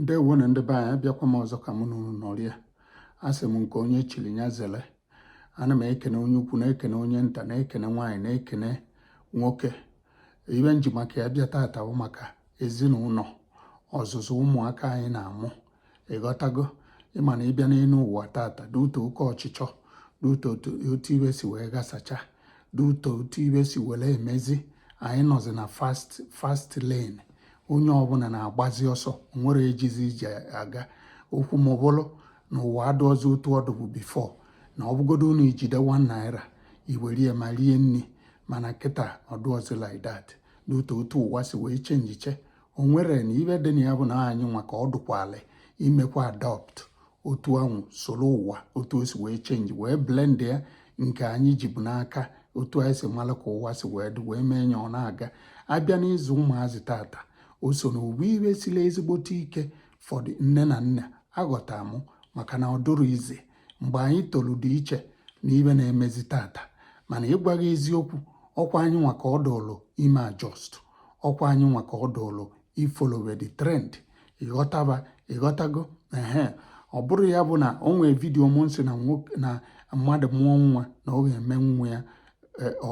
ndewo nụ ndị be anyị abịakwa m ọzọ ka mụ na unu nọrịa asị m nke onye chiri ya zele ana m ekene onye ukwu na-ekene onye nta na-ekene nwaanyị na-ekene nwoke ibe m ji maka ya bịa tata bụ maka ezinụlọ ọzụzụ ụmụaka anyị na-amụ ịghọtago ịma na ịbịa n'elu ụwa tata due to oke ọchịchọ due to otu ibe si wee gasacha due to otu ibe si were emezi anyị nọzi na fast lane onye ọbụla na-agbazi ọsọ nwere ejizi ije aga okwu m abụlụ na ụwa adụrọzi otu ọ dịbu before na ọbụgodo unu ijide 1 naira iwerie ma rie nri mana kịta ọ dụrọzi like that due to otu ụwa si wee chenjiche o nwere na ibe dị na ya bụ na anyị nwa ka ọ dụkwalị imekwa adopt otu anwụ soro ụwa otu o si wee change wee blend ya nke anyị jibu n'aka otu anyị si mara ka ụwa si wee dị wee mee ya ọ na-aga abịa n'ịzụ ụmụazị tata o so na ovu ibe siri ezigbote ike for nne na nna aghọta mụ maka na ọ dụrọ easy mgbe anyị tolu dị iche na ibe na-emezi tata mana ịgwa gị eziokwu ọkwa anyị nwa ka ọ dụlụ ime adjust ọkwa anyị nwa ka ọ dụlụ ifolowe the trend ịghọtaba ịghọtago ehe ọ bụrụ ya bụ na o nwee video m sị na mmadụ mụọ nwa na ọ ga-eme nwa ya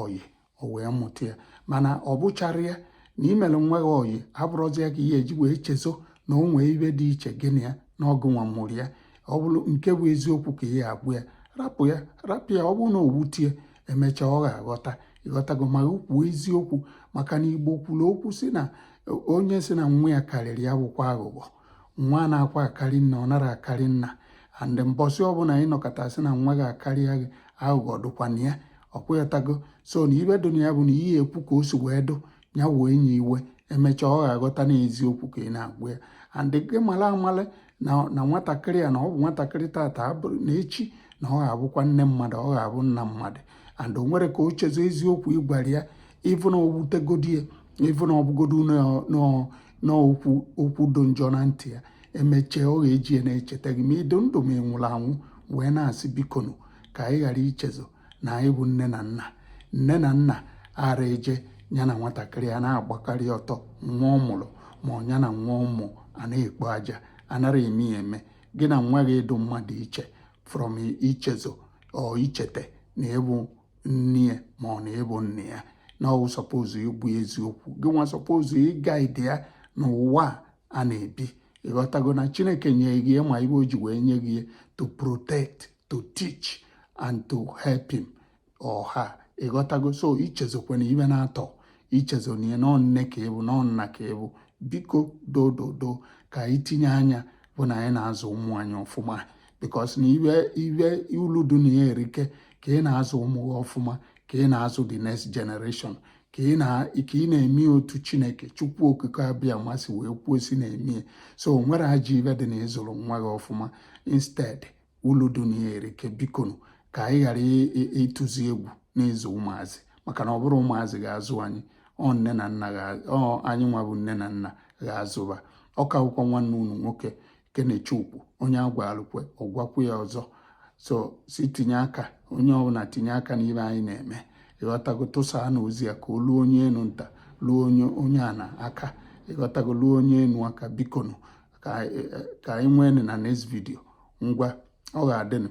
ọyị o wee mụta ya mana ọ bụchara ya na imere nwa gị ọyị abụrọzi ya ka ị ya-eji wee chezọ na o nwee ibe dị iche gị na ya na ọ gị nwa mụrụ ya ọ bụrụ nke bụ eziokwu ka ị ya-agwa ya rapụ ya rapụ ya ọ bụrụ na o wute ya emechaa ọ ga-aghọta ịghọtago ma kwuo eziokwu maka na igbo kwuru okwu sị na onye sị na nwa ya karịrị ya bụkwa aghụghọ nwa anakwa akarị nna ọ nara akarị nna and mbọsị ọbụla anyị nọkata sị na nwa gị akarịa gị aghụghọ dụkwana ya ọkwa ịghọtago so na ibe dụ na ya bụ na ị ya-ekwu ka o si wee dụ ya wee nya iwe emechaa ọ ga-aghọta na eziokwu ka ị na-agwa ya and gị mara amala na nwatakịrị ya na ọ bụ nwatakịrị tata abụrụ na echi na ọ ga-abụkwa nne mmadụ ọ ga-abụ nna mmadụ and o nwere ka o chezọ eziokwu ịgwara ya even ọ wutegodi ya even ọ bụgodo na okwu dụ njọ na ntị ya emechee ọ ga-eji ya na-echeta gị ma ịdị ndụ ma ị nwụrụ anwụ wee na-asị bikonu ka anyị ghara ichezọ na anyị bụ nne na nna nne na nna ara eje ya na nwatakịrị a na-agbakarị ọtọ nwa ọ mụrụ ma ọ ya na nwa ọ mụ a na-ekpo aja anara eme ya eme gị na nwa gị ịdụ mma dụ iche from ichezọ or ichete na ịbụ nne ya ma ọ na ị bụ nna ya na ọ wụ suppose ịbụ eziokwu gị nwa suppose iguide ya n'ụwa a na-ebi ịghọtago na chineke nye gị ma ibe o ji wee nye gị to protect to teach and to help him or her ịghọtago so ichezokwana ibe naatọ ichezona na ọ nne ka ị bụ na ọ nna ka ị bụ biko dododo ka anyị tinye anya bụ na anyị na-azụ ụmụ anyị ọfụma because na ibe ibe ulu dị na ya erike ka ị na-azụ ụmụ gị ọfụma ka ị na-azụ the next generation ka ị na-eme otu chineke chukwu okike abịama sị wee kwuo si na-eme so o nwerọ ajọ ibe dị na ịzụrụ nwa gị ọfụma instead ulu dị na ya erike bikonu ka anyị ghara ịtụzi egwu n'ịzụ ụmụazị maka na ọ bụrọ ụmụazị ga-azụ anyị ọ nne na nna anyị nwa bụ nne na nna ga-azụ ba ọ kakwa nwanne unu nwoke kenechukwu onye a gwalụ kwe ọ gwakwu ya ọzọ so si tinye aka onye ọbụla tinye aka n'ibe anyị na-eme ịghọtago tụsanụ ozi a ka o luo onye enu nta luo onye ana aka ịghọtago luo onye enu aka bikonu ka anyị nwee na next video ngwa ọ ga-adịnụ